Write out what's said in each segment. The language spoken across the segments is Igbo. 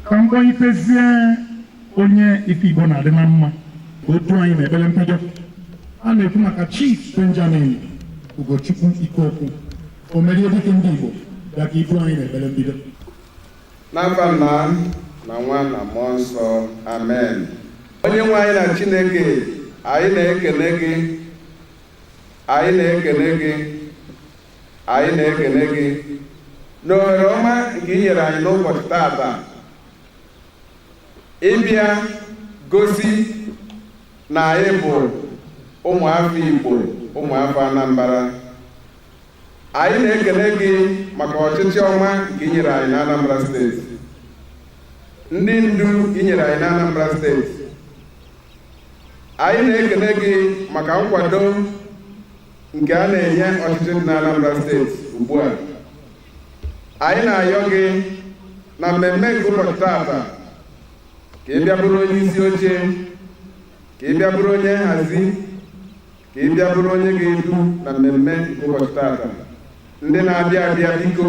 ka m kpọitezie onye ife Igbo na-adị na mma o du anyị n'ekpere mbido a na-ekwu maka Chief Benjamin Ugochukwu Ikeokwu o mere dịka ndị Igbo bịa ka i du anyị n'ekpere mbido n'afa nna na nwa na mmụọ nsọ amen onye nwe anyị na chineke anyị na-ekene gị anyị na-ekene gị anyị na-ekene gị n'ohere ọma nke i nyere anyị n'ụbọchị taata ịbịa gosi na anyị bụ ụmụafọ Igbo ụmụafọ Anambra anyị na-ekene gị maka ọchịchị ọma nke i nyere anyị n'Anambra steeti ndị ndu nke i nyere anyị n'Anambra steeti anyị na-ekene gị maka nkwado nke a na-enye ọchịchị dị n'Anambra steeti ugbu a anyị na-ayọ gị na mmemme nke ụbọchị taata ka ị bịa bụrụ onye isi oche ka ị bịa bụrụ onye nhazi ka ị bịa bụrụ onye ga-edu na mmemme nke ụbọchị taata ndị na-abịa abịa biko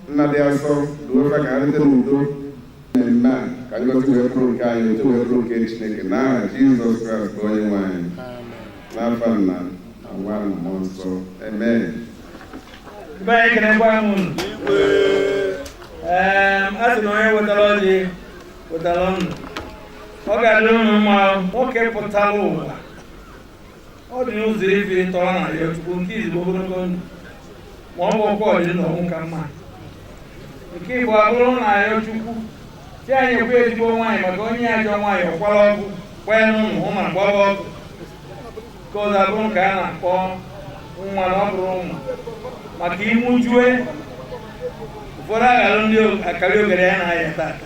nna dị asọ duo fa ka ha rute n'udo mmemme a ka ngọzi wee bụrụ nke anyị otito wee bụrụ nke chineke n'aha jizọs kraịst bụ onye nwe anyị n'afa nna na nwa na mmụọ nsọ amen Ibe anyị ekenekwa m unu. Ee, a sị na onye wetara ọjị wetara ndụ. Ọ ga-adị unu mma nwoke pụtara ụwa ọ dị ụzọ ife n'atọ ọ na-ayọ chukwu nke izugbo ogologo ndụ ma ọ bụrọkwa ọdị ndụ ọnwụ ka mma nke ịbụa abụrụ na-ayọ chukwu sị ya nyekwu ya ezigbo nwaanyị maka onye ajọ nwaanyị ọkwara ọgwụ kwee n'ụlọ hụ ma gbaba ọgwụ ka ọzọ abụrụ nke a na-akpọ nwa na ọ bụrụ ụmụ maka ịmụjue ụfọdụ aghọlụ ndị akariogeri a na-aya tata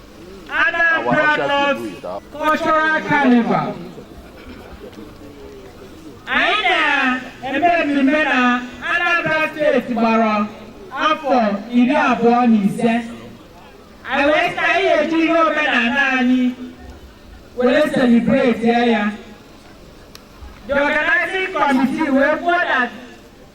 Anambra North Cultural Carnival anyị na-eme mmemme na Anambra steeti gbara afọ iri abụọ na ise anyị wee sị anyị ya-eji ihe omenala anyị were selibreti ya the organizing committee wee kwuo na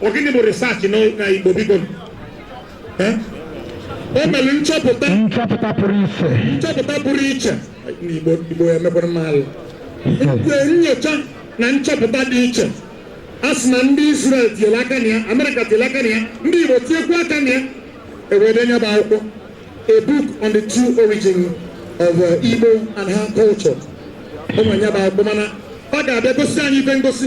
Ọ gịnị bụ research na na Igbo biko? Eh? O mere nchọpụta nchọpụta pụrụ iche nchọpụta pụrụ iche n'Igbo Igbo emekwara m alụ. Nke nyocha na nchọpụta dị iche. A sị na ndị Izrel tinyere aka na ya, Amerịka tinyere aka na ya, ndị Igbo tinyekwa aka na ya, e wee dee nya bụ akwụkwọ. A book on the true origin of uh, Igbo and her culture. Ụmụ ya bụ akwụkwọ mana ọ ga-abịa gosi anyị ife ngosi.